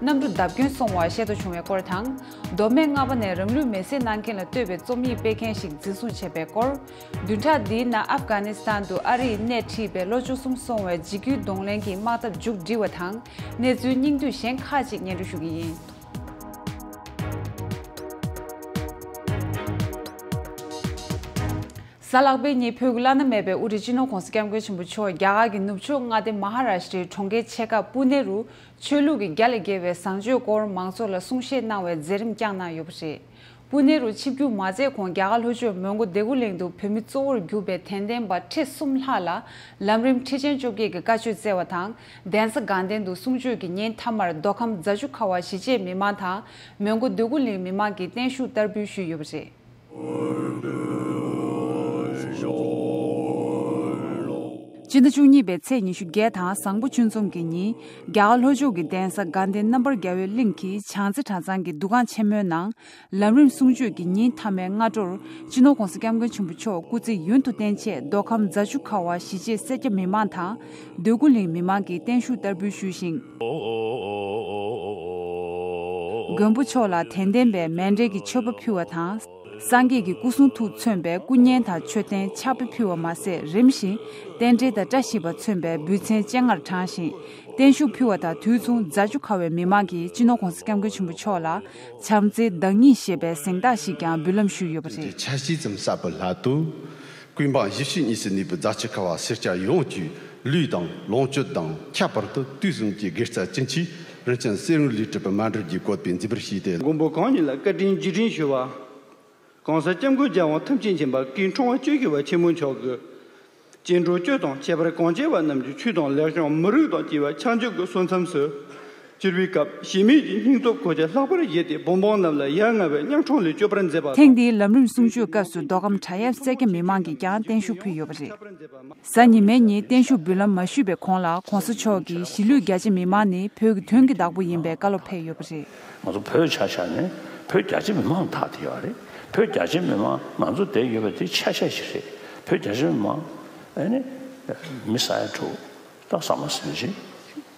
གནམ་གྲུ་བརྡབ་སྐྱོན་སོང་བ་བཤད་དུ་བྱུང་བའི་སྐོར་དང། མདོ་སྨད་རྔ་པ་ནས་རང་ལུས་མེ་བསྲེགས་གནང་མཁན་ལ་བསྟོད་པའི་རྩོམ་ཡིག་སྤེལ་མཁན་ཞིག་འཛིན་བཟུང་བྱས་པའི་སྐོར། བདུན་ཕྲག་འདིའི་ནང་ཨབ་གྷ་ནི་སི་ཐན་དུ་ཨ་རིས་སྣེ་ཁྲིད་པའི་ལོ་བཅུ་གསུམ་སོང་བའི་འཇིགས་སྐུལ་གདོང་ལེན་གྱི་དམག་འཐབ་མཇུག་སྒྲིལ་བ་དང་གནས་ཚུལ་སྙིང་བསྡུས་གཞན་ཁག་ཅིག་སྙན་སྒྲོན་ཞུ་གི་ཡིན། གཟའ་ལག་པའི་ཉིན་བོད་ཀྱི་བླ་ན་མེད་པའི་དབུ་ཁྲིད་སྤྱི་ནོར ྋགོང་ས ྋསྐྱབས་མགོན་ཆེན་པོ་མཆོག་རྒྱ་གར་གྱི་ནུབ་ཕྱོགས་མངའ་སྡེ་མ་ཧ་ར་ཤྲཱི་གྲོང་ཁྱེར་ཆེ་ཁ་པུ་ནེ་རུ་ཆོས་ལུགས་ཀྱི་རྒྱ་ལས་བརྒལ་བའི་བཟང་སྤྱོད་སྐོར་མང་ཚོགས་ལ་གསུང་བཤད་གནང་བའི་མཛད་རིམ་བསྐྱངས་གནང་ཡོད་པ་རེད། སྤུན་ནེ་རུ་ཆིབས་བསྒྱུར་མ་མཛད་གོང་རྒྱ་གར་ལྷོ་ཕྱོགས་མོན་གྷོ་སྡེ་དགུ་གླིང་དུ་བོད་མི་གཙོ་བོར་གྱུར་པའི་དད་ལྡན་པ་ཁྲི་གསུམ་ལྷག་ལ་ལམ་རིམ་ཁྲི་ཆེན་བཅོ་བརྒྱད་ཀྱི་བཀའ་ཆོས་སྩལ་བ་དང་གདན་ས་དགའ་ལྡན་དུ་གསུང་ཆོས་ཀྱི་ཉིན་མཐའ་མར་མདོ་ཁམས་རྫ་ཆུ་ཁ་བ་གཞིས་བྱེས་མི་མང་དང་མོན་གྷོ་སྡེ་དགུ་གླིང་མི་མང་གིས་བརྟན་བཞུགས་བསྟར་འབུལ་ཞུས་ཡོད་པ་རེད། སྤྱི་ཟླ་བཅུ་གཉིས་པའི་ཚེས་ཉི་ཤུ་བརྒྱད་དང་བཟང་པོ་བཅུ་འཛོམས་ཀྱི་ཉིན། རྒྱ་གར་ལྷོ་ཕྱོགས་ཀྱི་གདན་ས་དགའ་ལྡན་རྣམ་པར་རྒྱལ་བའི་གླིང་གི་བྱང་རྩེ་གྲྭ་ཚང་གི་འདུ་ཁང་ཆེན་མོའི་ནང། ལམ་རིམ་གསུང་ཆོས་ཀྱི་ཉིན་མཐའ་མའི་སྔ་དྲོར། སྤྱི་ནོར ྋགོང་ས ྋསྐྱབས་མགོན་ཆེན་པོ་མཆོག་སྐུ་ཚེ་ཡུན་དུ་བརྟན་ཆེད་མདོ་ཁམས་རྫ་ཆུ་ཁ་བ་ཞི་བྱེད་སེར་སྐྱ་མི་མང་དང། འདོད་རྒུ་གླིང་མི་མང་གིས་བརྟན་བཞུགས་བསྟར་འབུལ་ཞུས་ཤིང། མགོན་པོ་མཆོག་ལ་དན་ལྡན་པའི་མན་འབྲེལ་གྱི་མཆོད་པ་ཕུལ་བ་དང། སངས་རྒྱས་ཀྱི་སྐུ་གསུང་ཐུགས་མཚོན་པའི་སྐུ་བརྙན་དང་མཆོད་རྟེན་ཕྱག་དཔེ་ཕུལ་བ་མ་ཟད་རིམ་བཞིན་རྟེན་འབྲེལ་དང་བཀྲ་ཤིས་པ་མཚོན་པའི་འབུལ་ཚན་སྤྱན་སྔར་དྲངས་ཤིང་བརྟན་བཞུགས་ཕུལ་བ་དང་དུས་མཚུངས་རྫ་ཆུ་ཁ་བའི་མི་མང་གིས་སྤྱི་ནོར ྋགོང་ས ྋསྐྱབས་མགོན་ཆེན་པོ་མཆོག་ལ་བྱམས་བརྩེའི་བདག་ཉིད་ཞེས་པའི་གཟེངས་རྟགས་ཤིག་ཀྱང་འབུལ་ལམ་ཞུས་ཡོད་པ་རེད། ཅེས་ཆ་བཞི་ཙམ་གསར་བུ་ལྷག་འདུག། ཀུན་སྤངས་བཞི་བཅུ་གཉིས་སུ་གནས་པའི་རྫ་ཆུ་ཁ་བ་སེར་སྐྱ་ཡོངས་བཅུས་ལུས་དང་ལོངས་སྤྱོད་དང་ཁྱད་པར་དུ་དུས་གསུམ་གྱི་དགེ་རྩ་ཅི་མཆིས་རིན་ཆེན་གསེར་དངུལ་ལས་གྲུབ་པའི་སྨན་སྒྲུབ་ཀྱི་བཀོད་པས་མཛེས་པར་བྱས་ཏེ། མགོན་པོ་གང་ཉིད་ལ་བཀའ་དྲིན་རྗེས་དྲན་ཞུ་བ། གང་ཟག་སྐྱབས་མགོན་རྒྱལ་དབང་ཐམས་ཅད་མཁྱེན་པ་སྐུའི་འཕྲེང་བ་གཅོད་བཞི་བ་ཆེན་པོ་མཆོག་གི་སྤྱན་དྲངས་གཅོད་དང་ཁྱད་པར་གང་བྱེད་པ་རྣམས་ཀྱི་ཆོས་དང་ལེགས་བྱང་མི་རུས་དང་བཅས་པ་ཕྱག་མཇུག་གི་སོ་མཚམས་སུ། སྤྱིར་བའི་སྐབས་གཞལ་མེད་ཀྱི་སྙིང་སྟོབས་གོ་ཆ་ལྷག་པར་བཞེས་ཏེ་བུན་འབངས་རྣམས་ལ་ཡ་ང་བའི་གཉའ་གྲོང་ལས་སྐྱོབ་པར་མཛད་པ་ཐེངས་དང། འདིའི་ལམ་རིམ་གསུང་ཆོས་སྐབས་སུ་མདོ་ཁམས་བྲག་གཡབ་སེར་སྐྱ་མི་མང་གིས་ཀྱང་བརྟན་བཞུགས་ཕུལ་ཡོད་པ་རེད། གཟའ་ཉི་མའི་ཉིན་བརྟན་བཞུགས་འབུལ་ལམ་མ་ཞུས་པའི་གོང་ལ་གོང་ས་མཆོག་གིས་གཞིས་ལུས་རྒྱ་ཆེ་མི་མང་ནི་བོད་ཀྱི་དོན་གྱི་བདག་པོ་ཡིན་པའི་བཀའ་སློབ་ཕེབས་ཡོད་པ་རེད། ང་ཚོ་བོད་ཆ་ཤས་ནི་བོད་རྒྱ་ཆེ་མི་མང་དག་བསྡད་ཡོད་རེད། བོད་རྒྱ་ཆེ་མི་མང་ང་ཚོ་བསྡད་ཡོད་པ་དེ་ཆ་ཤས་ཤིག་རེད། བོད་རྒྱ་ཆེ་མི་མང། ཨ་ནི། མི་ས་ཡ་དྲུག། སྟག་བཟའ་མ་སེར་བྱེས།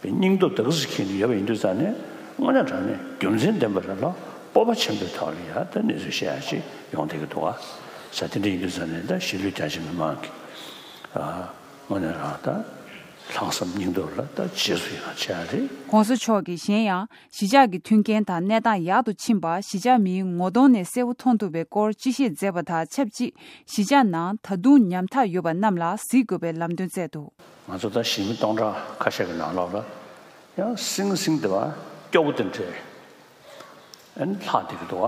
པའི་སྙིང་སྟོབས་དག་གཟིགས་མཁན་ཞིག་ཡོད་པ་ཡིན་དུས་ཙང་ནས་དངོས་གནས་དྲང་ནས་རྒྱུ་མཚན་ལྡན་པ་རེད་ལ་སྤོབས་པ་ཆེན་པོའི་ཐོག་ནས་ཡང་ད་གནས་ཚུལ་བཤད་ཡག་ཅིག་ཡོང་སྡད་ཀྱི་འདུག་ཨ། ས་དེ་འདྲ་ཡིན་དུས་ཙང་ནས་ད་གཞིས་ལུས་རྒྱ་ཆེ་མི་མང་གི་ཨ། དངོས་གནས་རང་ད་ལྷག་བསམ་སྙིང་སྟོབས་ལ་ད་རྗེས་སུ་ཡང་ཆེ་ཡག་རེད། གོང་ས་མཆོག་གིས་གཞན་ཡང་གཞིས་ཆགས་ཀྱི་མཐུན་རྐྱེན་དང་གནས་སྟངས་ཡག་ཏུ་ཕྱིན་པ་གཞིས་ཆགས་མིའི་ངོ་གདོང་ནས་གསལ་བོ་མཐོང་ཐུབ་པའི་སྐོར་སྤྱི་བཤད་མཛད་པ་དང་ཆབས་ཅིག་གཞིས་ཆགས་ནང་ད་དུང་ཉམ་ཐག་ཡོད་པ་རྣམས་ལ་གཟིགས་དགོས་པའི་ལམ་སྟོན་བསྩལ་འདུག། ང་ཚོ་ད་ཞི་མི་སྟོང་ཕྲག་ཁ་ཤས་ཀྱི་ནང་ལོགས་ལ་ཡང་སིང་སིང་དེ་བ་སྐྱོ་བོ་དེ་འདྲས་ཨན་ལྷག་བསྡད་ཀྱི་འདུག་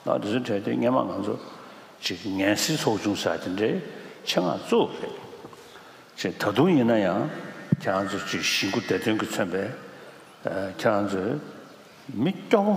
བ། ལ་དེ་ཚོའི་གྲས་དེ་སྙེ་མ་ང་ཚོ་ཅིག་ངན་སེལ་ཚོགས་ཆུང་ཟེར་དེ་འདྲས་ཆེད་མངགས་བཙུགས་པ་རེད། ཅེས་ད་དུང་ཡིན་ན་ཡང་ཁྱེད་རང་ཚོ་ཅིག་ཞི་མགུ་བདེ་དོན་གྱི་མཚོན་པས་ཁྱེད་རང་ཚོས་མི་སྐྱོ་བོ།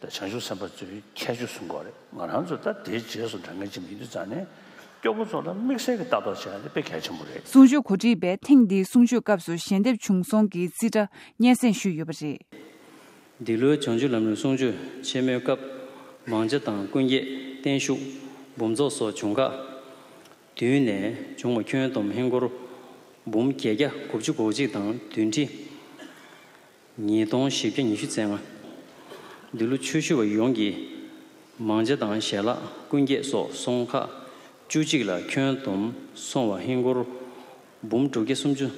ད་བྱང་ཆུབ་སེམས་དཔའ་ཚོའི་ཁྱད་ཆོས་སུ་འགོ་རེད་ང་རང་ཚོས་ད་དེའི་རྗེས་སུ་འབྲང་མཁན་གཅིག་མིན་དུས་ཚང་ནས་སྐྱོ་པོ་ཚོ་ལ་དམིགས་བསལ་གྱི་ལྟ་རྟོག་བྱེད་ན་དེ་དཔེ་གལ་ཆེན་པོ་རེད། གསུང་ཆོས་གོ་སྒྲིག་པས་ཐེངས་འདིའི་གསུང་ཆོས་སྐབས་སུ་ཞལ་འདེབས་བྱུང་སོང་གི་རྩིས་ཁྲ་སྙན་སེང་ཞུས་ཡོད་པ་རེད། འདི་ལོའི་བྱང་ཆུབ་ལམ་རིམ་གསུང་ཆོས་ཆེན་མོའི་སྐབས་མང་ལྕེ་དང་ཀུན་དགྱེས་བརྟན་བཞུགས་འབུམ་ཚོགས་སོགས་བྱུང་ཁག་བདུན་ནས་བྱུང་བ་ཁྱོན་བསྡོམས་ཧིན་སྒོར་འབུམ་བརྒྱད་བརྒྱ་དགུ་བཅུ་གོ་གཅིག་དང་བདུན་ཁྲི། ཉིས་སྟོང་བཞི་བརྒྱ་ཉི་ཤུ་ཚན་ལྔ། འདི་ལོ་ཆོས་ཞུ་བ་ཡོངས་ཀྱིས་མང་བྱ་དང་ཞལ་ལག་ཀུན་རྒྱས་སོགས་སོང་ཁག་བཅུ་གཅིག་ལ་ཁྱོན་བསྡོམས་སོང་བ་ཧིན་སྒོར་འབུམ་དྲུག་བརྒྱ་སུམ་ཅུ།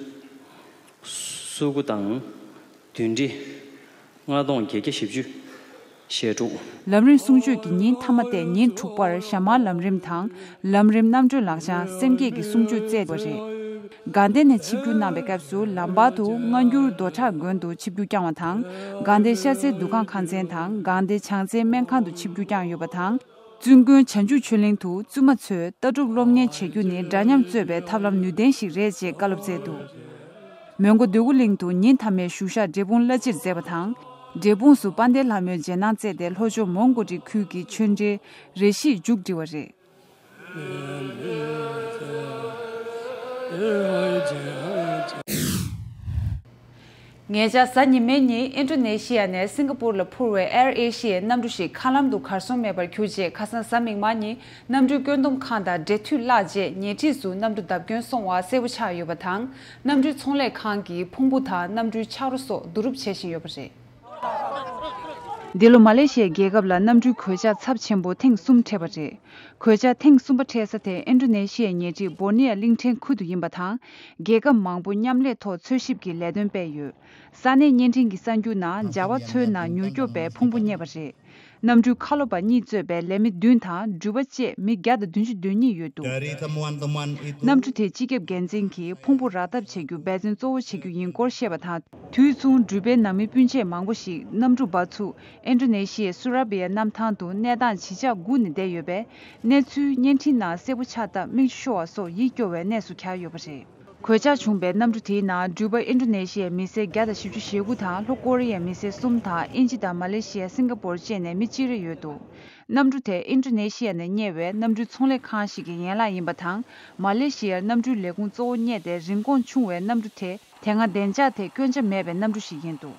སུའུ་གུ་དང་བདུན་ཁྲི་ལྔ་སྟོང་བརྒྱད་བརྒྱ་བཞི་བཅུ། ཞེ་དྲུག། ལམ་རིམ་གསུང་ཆོས་ཀྱི་ཉིན་ཐ་མ་སྟེ་ཉིན་དྲུག་པར་ཞྭ་དམར་ལམ་རིམ་དང། ལམ་རིམ་རྣམ་གྲོལ་ལག་བཅངས་སེམས་བསྐྱེད་ཀྱི་གསུང་ཆོས་བསྩལ་བ་རེད། དགའ་ལྡན་ནས་ཆིབས་བསྒྱུར་གནང་བའི་སྐབས་སུ་ལམ་བར་དུ་སྔ་འགྱུར་རྡོ་བྲག་དགོན་དུ་ཆིབས་བསྒྱུར་བསྐྱངས་བ་དང། དགའ་ལྡན་ཤར་རྩེའི་འདུ་ཁང་ཁང་ཚན་དང་དགའ་ལྡན་བྱང་རྩེའི་སྨན་ཁང་དུ་ཆིབས་བསྒྱུར་བསྐྱངས་ཡོད་པ་དང། བཙུན་དགོན་བྱང་ཆུབ་ཆོས་གླིང་དུ་བཙུན་མ་ཚོས་ལྟ་གྲུབ་སློབ་གཉེར་བྱེད་རྒྱུ་ནི་འདྲ་མཉམ་རྩོད་པའི་ཐབས་ལམ་ནུས་ལྡན་ཞིག་རེད་ཅེས་བཀའ་སློབ་སྩལ་འདུག་མོན་གྷོ་འདོད་རྒུ་གླིང་དུ་ཉིན་མཐའ་མའི་བཞུགས་ཤག་འབྲས་སྤུངས་བླ་སྤྱིར་མཛད་པ་དང། འབྲས་སྤུངས་སུ་དཔལ་ལྡན་ལྷ་མོའི་རྗེས་གནང་སྩལ་ཏེ་ལྷོ་ཕྱོགས་མོང་གོ་འབྲི་ཁུལ་གྱི་ཆོས་འབྲེལ་རེ་ཞིག་མཇུག་བསྒྲིལ་བ་རེད། ངེད་ཅག་གཟའ་ཉི་མའི་ཉིན་ཨིན་ཀྲོ་ནེ་ཤི་ཡ་ནས་སིང་ག་པུར་ལ་འཕུར་བའི་ཨེར་ཨེ་ཤི་ཡའི་གནམ་གྲུ་ཞིག་མཁའ་ལམ་དུ་གར་སོང་མེད་པར་གྱུར་རྗེས་ཁ་སང་གཟའ་མིག་དམར་ཉིན་གནམ་གྲུའི་བཀོད་འདོམས་ཁང་དང་འབྲེལ་མཐུད་བརླགས་རྗེས་ཉེ་འཁྲིས་སུ་གནམ་གྲུ་བརྡབ་སྐྱོན་སོང་བ་གསལ་བོ་ཆགས་ཡོད་པ་དང་གནམ་གྲུའི་ཚོང་ལས་ཁང་གིས་ཕུང་པོ་དང་གནམ་གྲུའི་ཆག་རོ་སོགས་བསྡུ་རུབ་བྱེད་བཞིན་ཡོད་པ་རེད། འདི་ལོ་མ་ལེ་ཤི་ཡའི་རྒྱལ་ཁབ་ལ་གནམ་གྲུའི་གོད་ཆག་ཚབས་ཆེན་པོ་ཐེངས་གསུམ་འཕྲད་པ་རེད། གོད་ཆག་ཐེངས་གསུམ་པ་འཕྲད་ས་དེ་ཨིན་ཀྲུ་ནེ་ཤི་ཡའི་ཉེ་འཁྲིས་སྦོར་ནི་ཡ་གླིང་ཕྲན་ཁུལ་དུ་ཡིན་པ་དང། རྒྱལ་ཁབ་མང་པོ་མཉམ་ལས་ཐོག་འཚོལ་ཞིབ་ཀྱི་ལས་དོན་སྤེལ་ཡོད། ས་གནས་བརྙན་འཕྲིན་གྱི་གསར་འགྱུར་ནང་ཇཱ་བ་མཚོའི་ནང་མྱུར་སྐྱོབ་པས་ཕུང་པོ་རྙེད་པ་རེད། རྣམ་སྤྲུལ་ཁ་ལོ་པ་གཉིས་གཙོས་པའི་ལས་མི་བདུན་དང་སྦྲུལ་པ་བཅས་མི་བརྒྱ་དང་བདུན་ཅུ་དོན་གཉིས་ཡོད་འདུག་རྣམ་སྤྲུལ་དེས་སྤྱི་ཁྱབ་འགན་འཛིན་གྱིས་ཕུང་པོ་རག་ཐབས་བྱེད་རྒྱུ་འབད་བརྩོན་གཙོ་བོ་བྱེད་རྒྱུ་ཡིན་སྐོར་བཤད་པ་དང། དུས་མཚུངས་སྦྲུལ་པའི་ནང་མི་སྤུན་མཆེད་མང་པོ་ཞིག་གནམ་གྲུ་འབབ་ཚུགས་ཨེན་ཏྲོ་ནེ་ཤི་ཡའི་སུ་ར་བི་ཡ་གནམ་ཐང་དུ་གནས་སྟངས་ཇི་ཆགས་སྒུག་ནས་བསྡད་ཡོད་པས་གནས་ཚུལ་བརྙན་འཕྲིན་ནང་གསལ་པོ་ཆགས་སྟབས་མིག་ཆུ་ཤོར་བ་སོགས་ཡིད་སྐྱོ་བའི་གནས་སུ་གྱར་ཡོད་པ་རེད། གོད་ཆག་བྱུང་པའི་གནམ་གྲུ་དེའི་ནང་འགྲུལ་པ་ཨིན་ཀྲོ་ནེ་ཤི་ཡའི་མི་སེར་བརྒྱ་དང་བཞི་བཅུ་ཞེ་དགུ་དང་ལྷོ་ཀོ་རི་ཡའི་མི་སེར་གསུམ་དང་དབྱིན་ཇི་དང་མ་ལེ་ཤི་ཡ་སིང་ག་པོར་བཅས་ནས་མི་གཅིག་རེ་ཡོད་འདུག་གནམ་གྲུ་དེ་ཨིན་ཀྲོ་ནེ་ཤི་ཡ་ནས་གཉེར་བའི་གནམ་གྲུའི་ཚོང་ལས་ཁང་ཞིག་གི་ཡན་ལག་ཡིན་པ་དང་མ་ལེ་ཤི་ཡར་གནམ་གྲུའི་ལས་ཁུངས་གཙོ་བོ་རྙེད་དེ་རིན་གོང་ཆུང་བའི་གནམ་གྲུ་དེ་དེ་སྔ་བདེ་འཇགས་ཐད་སྐྱོན་ཆ་མེད་པའི་གནམ་གྲུ་ཞིག་ཡིན་འདུག།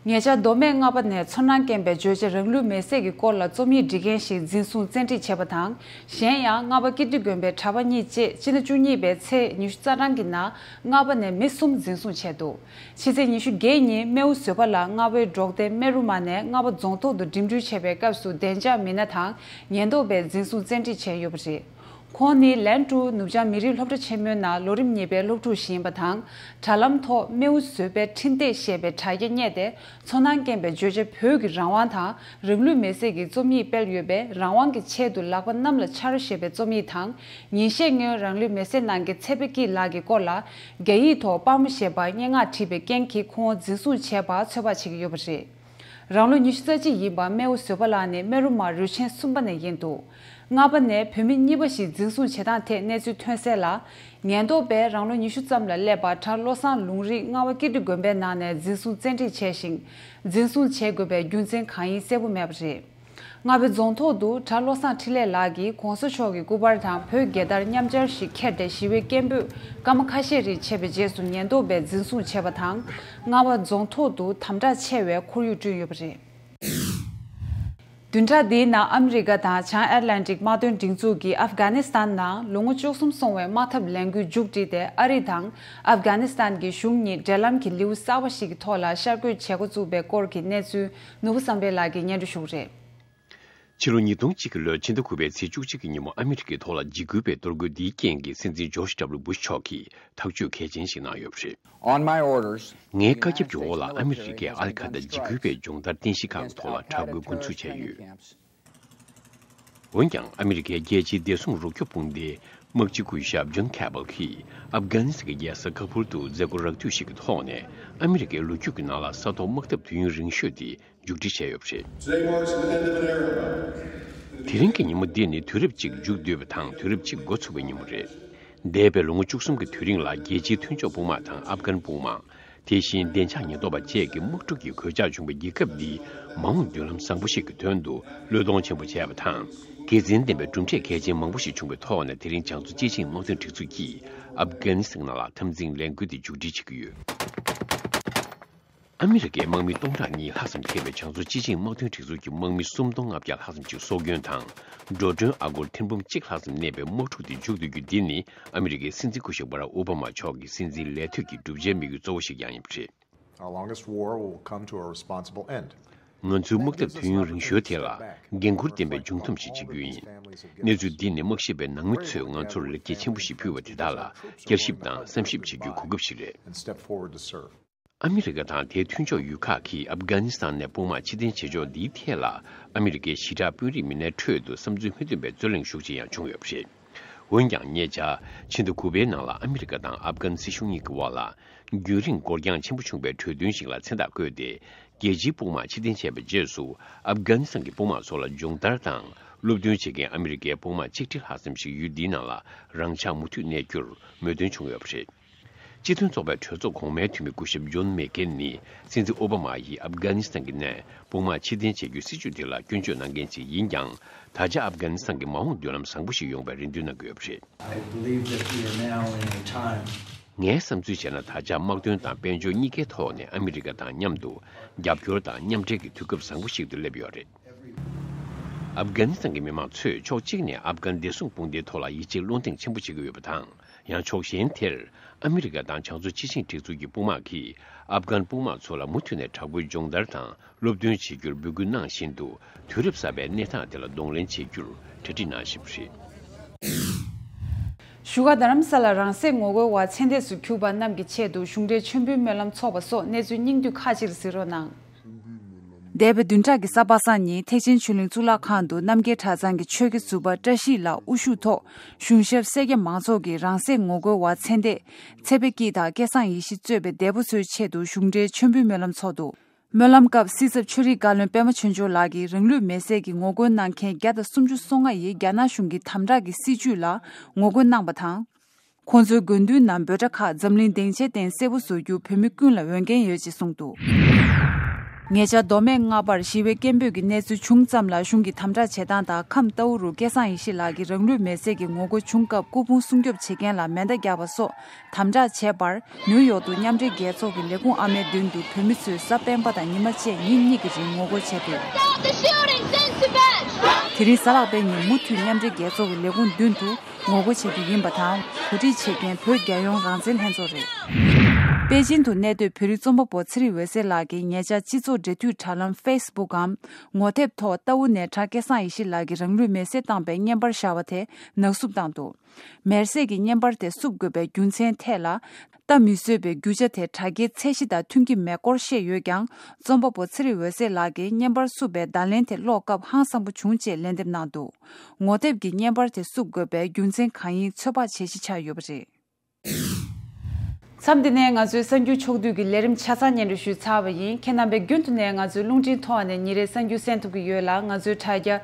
ངེད་ཅག་མདོ་སྨད་རྔ་པ་ནས་ཚོར་སྣང་སྐྱེན་པའི་རྗོད་བྱེད་རང་ལུས་མེ་སྲེག་གི་སྐོར་ལ་རྩོམ་ཡིག་འབྲི་མཁན་ཞིག་འཛིན་བཟུང་བཙན་ཁྲིད་བྱས་པ་དང་གཞན་ཡང་རྔ་པ་ཀིརྟི་དགོན་པའི་གྲྭ་པ་གཉིས་བཅས་སྤྱི་ཟླ་བཅུ་གཉིས་པའི་ཚེས་ཉི་ཤུ་རྩ་གྲངས་ཀྱི་ནང་རྔ་པ་ནས་མི་གསུམ་འཛིན་བཟུང་བྱས་འདུག་ཕྱི་ཚེས་ཉི་ཤུ་བརྒྱད་ཉིན་རྨེའུ་བཟོད་པ་ལགས་རྔ་བའི་འབྲོག་སྡེ་རྨེ་རུ་མ་ནས་རྔ་བ་རྫོང་ཐོག་ཏུ་འགྲིམ་འགྲུལ་བྱེད་པའི་སྐབས་སུ་བདེ་འཇགས་མི་སྣ་དང་ཉེན་རྟོག་པས་འཛིན་བཟུང་བཙན་ཁྲིད་བྱས་ཡོད་པ་རེད། ཁོང་ནི་ལན་ཀྲུའུ་ནུབ་བྱང་མི་རིགས་སློབ་གྲྭ་ཆེན་མོའི་ནང་ལོ་རིམ་གཉིས་པའི་སློབ་ཕྲུག་ཞིག་ཡིན་པ་དང་དྲ་ལམ་ཐོག་རྨེའུ་བཟོད་པའི་འཕྲིན་སྟེགས་ཞེས་པའི་དྲ་རྒྱ་བསྙད་དེ་ཚོར་སྣང་སྐྱེན་པའི་བརྗོད་བྱ་བོད་ཀྱི་རང་དབང་དང་རང་ལུས་མེ་བསྲེགས་ཀྱི་རྩོམ་ཡིག་སྤེལ་ཡོད་པས་རང་དབང་གི་ཆེད་དུ་ལག་པ་གནམ་ལ་འཕྱར་ཞེས་པའི་རྩོམ་ཡིག་དང་ཉིན་ཤས་སྔོན་རང་ལུས་མེ་བསྲེགས་གནང་མཁན་ཚེ་བྷེ་སྐྱིད་ལགས་ཀྱི་སྐོར་ལ་རྒྱ་ཡིག་ཐོག་དཔའ་མོ་ཞེས་པར་སྙན་ངག་བྲིས་པའི་རྐྱེན་གྱིས་ཁོང་བོ་འཛིན་བཟུང་བྱས་པར་ཚོད་དཔག་བྱེད་ཀྱི་ཡོད་པ་རེད། རང་ལོ་ཉི་ཤུ་རྩ་གཅིག་ཡིན་པ་རྨེའུ་བཟོད་པ་ལགས་ནི་རྨེ་རུ་མར་རུས་ཆེན་གསུམ་པ་ནས་ཡིན་འདུག་ལྔ་པ་ནས་བུད་མེད་གཉིས་པ་ཞིག་འཛིན་བཟུང་བྱེད་སྟངས་ཐད་གནས་ཚུལ་ཐོན་གསལ་ལ། ཉེན་རྟོག་པས་རང་ལོ་ཉི་ཤུ་ཙམ་ལ་སླེབས་པ་གྲྭ་བློ་བཟང་ལུང་རིགས་རྔ་བ་ཀིརྟི་དགོན་པའི་ནང་ནས་འཛིན་བཟུང་བཙན་ཁྲིད་བྱས་ཤིང། འཛིན་བཟུང་བྱེད་དགོས་པའི་རྒྱུ་མཚན་གང་ཡིན་གསལ་བོ་མེད་པ་རེད། རྔ་བའི་རྫོང་ཐོག་ཏུ་གྲྭ་བློ་བཟང་འཕྲིན་ལས་ལགས་ཀྱིས་གོང་ས་མཆོག་གི་སྐུ་པར་དང་བོད་རྒྱལ་དར་མཉམ་སྦྱར་ཞིག་ཁྱེར་ཏེ་ཞི་བའི་སྐད་འབོད་སྐར་མ་ཁ་ཤས་རིང་བྱས་པའི་རྗེས་སུ་ཉེན་རྟོག་པས་འཛིན་བཟུང་བྱས་པ་དང། རྔ་བ་རྫོང་ཐོག་ཏུ་དམ་དྲག་ཆེ་བའི་ཁོར་ཡུག་བསྐྲུན་ཡོད་པ་རེད། བདུན་ཕྲག་འདིའི་ནང་ཨ་མི་རི་ཀ་དང་བྱང་ཨེར་ལན་ཀྲིག་དམག་དོན་སྒྲིག་འཛུགས་ཀྱིས་ཨབ་གྷ་ནི་སི་ཐན་ནང་ལོ་ངོ་བཅུ་གསུམ་སོང་བའི་དམག་འཐབ་ལས་འགུལ་མཇུག་བསྒྲིལ་ཏེ་ཨ་རི་དང་ཨབ་གྷ་ནི་སི་ཐན་གྱི་གཞུང་གཉིས་འབྲེལ་ལམ་གྱི་ལེའུ་གསར་བ་ཞིག་གི་ཐོག་ལ་ཤར་བསྐྱོད་བྱེད་འགོ་བཙུགས་པའི་སྐོར་གྱི་གནས་ཚུལ་ནོར་བུ་བསམ་འཕེལ་ལགས་ཀྱི་སྙན་སྒྲོན་ཤོག་རེད། ཕྱི་ལོ་ཉིས་སྟོང་གཅིག་གི་ལོའི་ཕྱི་ཟླ་དགུ་པའི་ཚེས་བཅུ་གཅིག་གི་ཉིན་མོ་ཨ་མི་རི་ཀའི་ཐོག་ལ་འཇིགས་སྐུལ་བའི་གཏོར་རྒོལ་འདིའི་རྐྱེན་གྱིས་སྲིད་འཛིན George W Bush མཆོག་གིས་ཐག་གཅོད་གལ་ཆེན་ཞིག་གནང་ཡོད་པ་རེད། ངའི་བཀའ་ཁྱབ་ཀྱི་འོག་ལ་ཨ་མི་རི་ཀས་ཨ་ལི་ཁ་ད་འཇིགས་སྐུལ་བའི་སྦྱོང་བརྡར་རྟེན་གཞི་ཁག་གི་ཐོག་ལ་དྲག་རྒོལ་འགོ་འཛུགས་བྱས་ཡོད། འོན་ཀྱང་ཨ་མི་རི་ཀའི་རྒྱལ་སྤྱིའི་བདེ་སྲུང་རོགས་སྐྱོབ་དཔུང་སྡེའི་དམག་སྤྱི་སྐུ་ཞབས John Cabell གྱིས་ཨབ་གྷ་ནི་སི་ཀའི་རྒྱལ་ས་ཁ་བྷུར་དུ་མཛད་སྒོ་རགས་བསྡུས་ཤིག་གི་ཐོག་ནས་ཨ་མི་རི་ཀའི་ལོ་རྒྱུས་ཀྱི་ནང་ལ་ས་ཐོག་དམག་འཐབ་དུས་ཡུན་རིང་ཤོས་དེ་མཇུག་སྒྲིལ་བྱས་ཡོད་པ་རེད། དེ་རིང་གི་ཉིན་མོ་འདི་ནི་དུས་རབས་གཅིག་མཇུག་བསྡུས་པ་དང་དུས་རབས་གཅིག་མགོ་ཚུགས་པའི་ཉིན་མོ་རེད། འདས་པའི་ལོ་ངོ་བཅུ་གསུམ་གྱི་དུས་རིང་ལ་རྒྱལ་སྤྱིའི་མཐུན་ཕྱོགས་དཔུང་དམག་དང་ཨབ་གྷན་དཔུང་དམག་དེ་བཞིན་བདེ་འཇགས་ཉེན་རྟོག་པ་བཅས་ཀྱི་དམག་འཁྲུག་གི་གོད་ཆག་བྱུང་བའི་རྒྱལ་ཁབ་འདིའི་མ་འོངས་མདུན་ལམ་བཟང་པོ་ཞིག་གི་དོན་དུ་བློས་གཏོང་ཆེན་པོ་བྱས་པ་དང། དགེ་མཚན་ལྡན་པའི་གྲུབ་འབྲས་གལ་ཆེན་མང་པོ་ཞིག་བྱུང་བའི་ཐོག་ནས་དེ་རིང་བྱང་ཙོ་ཅེ་ཅིང་དམག་དོན་སྒྲིག་འཛུགས་ཀྱིས་ཨབ་གྷ་ནི་སི་ནང་ལ་འཐབ་འཛིང་ལས་འགུལ་འདི་མཇུག་སྒྲིལ་བྱེད་ཀྱི་ཡོད། ཨ་མི་རི་ཀའི་དམག་མི་སྟོང་ཕྲག་གཉིས་ལྷག་ཙམ་ཁེལ་བའི་བྱང་ཙོ་ཅེ་ཅིང་དམག་དོན་སྒྲིག་འཛུགས་ཀྱི་དམག་མི་སུམ་སྟོང་ལྔ་བརྒྱ་ལྷག་ཙམ་ཅིག་སྲོག་སྐྱོན་དང་འགྲོ་གྲོན་ཨ་སྒོར་ཐེར་འབུམ་གཅིག་ལྷག་ཙམ་གནས་པའི་དམག་འཁྲུག་འདི་མཇུག་བསྡུ་རྒྱུ་འདི་ནི་ཨ་མི་རི་ཀའི་སྲིད་འཛིན་སྐུ་ཞབས་བྷ་རག་ཨོ་བྷ་མ་མཆོག་གི་སྲིད་འཛིན་ལས་ཐོད་ཀྱི་བསྒྲུབ་བྱའི་དམིགས་ཡུལ་གཙོ་བོ་ཞིག་ཀྱང་ཡིན་པ་རེད། ང་ཚོའི་དམག་འཐབ་དུས་ཡུན་རིང་ཤོས་དེ་ལ་འགན་ཁུར་ལྡན་པའི་མཇུག་འཐོམས་ཤིག་བྱེད་རྒྱུ་ཡིན། གནས་ཚུལ་འདི་ནི་དམག་ཤེད་པའི་ནང་མི་ཚོས་ང་ཚོར་ལེགས་སྐྱེས་ཆེན་པོ་ཞིག་ཕུལ་བ་དེ་དག་ལ་བསྐྱར་ཞིབ་དང་བསམ་ཞིབ་བྱེད་རྒྱུའི་གོ་སྐབས་ཤིག་རེད། ཨ་མི་རི་ཀ་དང་དེའི་མཐུན་ཕྱོགས་ཡུལ་ཁག་གིས་ཨབ་གྷ་ནི་སི་ཐན་ནས་དཔུང་དམག་ཕྱིར་འཐེན་བྱེད་ཕྱོགས་འདིའི་ཐད་ལ་ཨ་མི་རི་ཀའི་ཞི་དྲག་དཔོན་རིགས་མི་སྣའི་ཁྲོད་དུ་བསམ་ཚུལ་མི་མཐུན་པའི་རྩོད་གླེང་ཤུགས་ཆེ་ཡང་བྱུང་ཡོད་པ་རེད། འོན་ཀྱང་ཉེ་ཆར་ཕྱི་ཟླ་དགུ་པའི་ནང་ལ་ཨ་མི་རི་ཀ་དང་ཨབ་གྷན་སྲིད་གཞུང་གཉིས་ཀྱི་དབར་ལ་རྒྱུན་རིང་འགོར་འགྱངས་ཆེན་པོ་བྱུང་བའི་གྲོས་མཐུན་ཞིག་ལ་མཚན་རྟགས་བཀོད་དེ་རྒྱལ་སྤྱིའི་དཔུང་དམག་ཕྱིར་འཐེན་བྱས་པའི་རྗེས་སུ་ཨབ་གྷ་ནི་སི་ཐན་གྱི་དཔུང་དམག་ཚོ་ལ་སྦྱོང་བརྡར་དང་སློབ་སྟོན་བྱེད་མཁན་ཨ་མི་རི་ཀའི་དཔུང་དམག་གཅིག་ཁྲི་ལྷག་ཙམ་ཞིག་ཡུལ་འདིའི་ནང་ལ་རང་འཇགས་མུ་མཐུད་གནས་རྒྱུར་མོས་མཐུན་བྱུང་ཡོད་པ་རེད། སྤྱི་མཐུན་ཚོགས་པའི་གྲོས་ཚོགས་གོང་མའི་འཐུས་མི་སྐུ་ཞབས་ཇོན་མེག་ཀེན་ནི་སྲིད་འཛིན་ཨོ་བྷ་མ་ཡིས་ཨབ་གྷ་ནི་སི་ཐན་གྱི་ནད་དཔུང་མང་ཕྱི་འཐེན་བྱེད་རྒྱུའི་སྲིད་བྱུས་དེ་ལ་སྐྱོན་བརྗོད་གནང་མཁན་ཞིག་ཡིན་ཀྱང་ད་ཆ་ཨབ་གྷ་ནི་སི་ཐན་གྱི་མ་འོངས་མདུན་ལམ་བཟང་པོ་ཞིག་ཡོང་བའི་རེ་འདུན་གནང་གི་ཡོད་པ་རེད། ངའི་བསམ་ཚུལ་བྱས་ན་ད་ཆ་དམག་དོན་དང་དཔལ་འབྱོར་གཉིས་ཀའི་ཐོག་ནས་ཨ་མི་རི་ཀ་དང་མཉམ་དུ་རྒྱབ་སྐྱོར་དང་མཉམ་འབྲེལ་གྱི་དུས་སྐབས་བཟང་པོ་ཞིག་ཏུ་སླེབས་ཡོད་པ་རེད། ཨབ་གྷ་ནི་སི་ཐན་གྱི་མི་མང་ཚོས་ཕྱོགས་གཅིག་ནས་ཨབ་གྷ་ནི་བདེ་སྲུང་དཔུང་སྡེའི་ཐོག་ལ་ཡིད་ཆེས་བློ་འདེངས་ཆེན་པོ་བྱེད་ཀྱི་ཡོད་པ་དང། ཡང་ཕྱོགས་གཞན་དེར་ཨ་མི་རི་ཀ་དང་བྱང་མཚོ་སྤྱི་བྱིངས་སྒྲིག་འཛུགས་ཀྱི་དཔུང་དམག་གིས་ཨབ་གྷན་དཔུང་དམག་ཚོ་ལ་མུ་མཐུད་ནས་དྲག་པོའི་སྦྱོང་བརྡར་དང་སློབ་སྟོན་བྱེད་རྒྱུར་འབོད་སྐུལ་གནང་བཞིན་དུ་དུས་རབས་གསར་པའི་གནས་སྟངས་དེ་ལ་གདོང་ལེན་བྱེད་རྒྱུར་གྲ་སྒྲིག་གནང་བཞིན་པ་རེད། བཞུགས་སྒར་རྡ་རམ་ས་ལར་རང་སྲེག་ངོ་རྒོལ་བ་མཚན་ལྟས་སུ་གྱུར་པ་རྣམས་ཀྱི་ཆེད་དུ་གཞུང་འབྲེལ་མཆོད་འབུལ་སྨོན་ལམ་ཚོགས་པ་སོགས་གནས་ཚུལ་སྙིང་བསྡུས་ཁག་ཅིག་གཟིགས་རོགས་གནང། འདས་པའི་བདུན་ཕྲག་གི་ས་པ་སངས་ཉིན་ཐེག་ཆེན་ཆོས་གླིང་གཙུག་ལག་ཁང་དུ་རྣམ་རྒྱལ་གྲྭ་ཚང་གི་ཆོས་དགེ་ཟུར་པ་བཀྲ་ཤིས་ལགས་དབུ་བཞུགས་ཐོག་གཞུང་ཞབས་སེར་སྐྱ་མང་ཚོགས་ཀྱིས་རང་སྲེག་ངོ་རྒོལ་བ་མཚན་ལྟས་ཚེ་དཔལ་སྐྱིད་དང་སྐལ་བཟང་ཡེ་ཤེས་གཙོས་པའི་འདས་པོ་ཚོའི་ཆེད་དུ་གཞུང་འབྲེལ་མཆོད་འབུལ་སྨོན་ལམ་ཚོགས་འདུ། སྨོན་ལམ་སྐབས་སྲིད་ཚབ་ཆོས་རིག་བཀའ་བློན་པད་མ་ཆོས་འབྱོར་ལགས་ཀྱིས་རང་ལུས་མེ་བསྲེགས་ཀྱི་ངོ་རྒོལ་གནང་མཁན་བརྒྱ་དང་སུམ་ཅུ་སོ་ལྔ་ཡིས་རྒྱ་ནག་གཞུང་གི་དམ་དྲག་གི་སྲིད་བྱུས་ལ་ངོ་རྒོལ་གནང་པ་དང། ཁོང་ཚོའི་དགོས་འདུན་ནམ་འབོད་སྒྲ་ཁག་འཛམ་གླིང་སྡིངས་ཆའི་སྟེང་གསལ་བོ་བཟོ་རྒྱུ་བོད་མི་ཀུན་ལ་འོས་འགན་ཡོད་ཅེས་གསུངས་འདུག་ཉེ་ཆར་མདོ་སྨད་རྔ་པར་ཞི་བའི་སྐད་འབོད་ཀྱི་གནས་ཚུལ་བྱུང་ཙམ་ལ་གཞུང་གི་དམ་དྲག་བྱེད་སྟངས་དང་ཁམས་རྟའུ་རུ་སྐལ་བཟང་ཡེ་ཤེས་ལགས་ཀྱིས་རང་ལུས་མེར་བསྲེགས་ཀྱི་ངོ་རྒོལ་བྱུང་སྐབས་སྐུ་ཕུང་སྲུང་སྐྱོབ་བྱེད་མཁན་ལ་མེ་མདའ་རྒྱག་པ་སོགས་དམ་དྲག་བྱས་པར་ནིའུ་ཡོག་ཏུ་མཉམ་འབྲེལ་རྒྱལ་ཚོགས་ཀྱི་ལས་ཁུངས་ཨ་མའི་མདུན་དུ་བོད་མི་ཚོས་གཟའ་སྤེན་པ་དང་ཉི་མ་བཅས་ཉིན་གཉིས་ཀྱི་རིང་ངོ་རྒོལ་བྱས་འདུག། དེ་རིང་གཟའ་ལག་པའི་ཉིན་མུ་མཐུད་མཉམ་འབྲེལ་རྒྱལ་ཚོགས་ཀྱི་ལས་ཁུངས་མདུན་དུ། ངོ་རྒོལ་བྱེད་རྒྱུ་ཡིན་པ་དང་གོ་སྒྲིག་བྱེད་མཁན་བོད་རྒྱལ་ཡོངས་རང་བཙན་ལྷན་ཚོགས་རེད། པེ་ཅིན་དུ་གནས་སྡོད་བོད་རིགས་རྩོམ་པ་པོ་ཚེ་རིང་འོད་ཟེར་ལགས་ཀྱིས་ཉེ་ཆར་སྤྱི་ཚོགས་འབྲེལ་མཐུད་དྲ་ལམ Facebook གམ་ངོ་དེབ་ཐོག་རྟ་ཝུ་ནས་གྲྭ་སྐལ་བཟང་ཡེ་ཤེས་ལགས་ཀྱིས་རང་ལུས་མེར་བསྲེགས་བཏང་པའི་བརྙན་པར་བཞག་པ་དེ་ནག་བསུབ་བཏང་འདུག་མེར་བསྲེགས་ཀྱི་བརྙན་པར་དེ་བསུབ་དགོས་པའི་རྒྱུ་མཚན་ཐད་ལ་ལྟ་མི་བཟོད་པའི་རྒྱུ་ཆ་དེ་དྲ་རྒྱའི་ཚད་གཞི་དང་མཐུན་གྱི་མེད་སྐོར་བཤད་ཡོད་ཀྱང་རྩོམ་པ་པོ་ཚེ་རིང་འོད་ཟེར་ལགས་ཀྱིས་བརྙན་པར་བསུབ་པའི་བརྡ་ལན་དེ་ཀློག་སྐབས་ཧང་སང་པོ་བྱུང་ཅེས་ལན་འདེབས་གནང་འདུག་ངོ་དེབ་ཀྱིས་བརྙན་པར་དེ་བསུབ་དགོས་པའི་རྒྱུ་མཚན་གང་ཡིན་ཚོད་དཔག་བྱེད་གཞི་ཆགས་ཡོད་པ་རེད། མཚམས་འདི་ནས་ང་ཚོས་གསར་འགྱུར་ཕྱོགས་བསྡུས་ཀྱི་ལས་རིམ་ཆ་ཚང་སྙན་སྒྲོན་ཞུས་ཚར་བ་ཡིན་ཁྱེད་རྣམ་པས་རྒྱུན་དུ་ནས་ང་ཚོའི་རླུང་འཕྲིན་ཐོག་ནས་ཉིན་རེའི་གསར་འགྱུར་གསན་ཐུབ་ཀྱི་ཡོད་ལ་ང་ཚོའི་དྲ་རྒྱ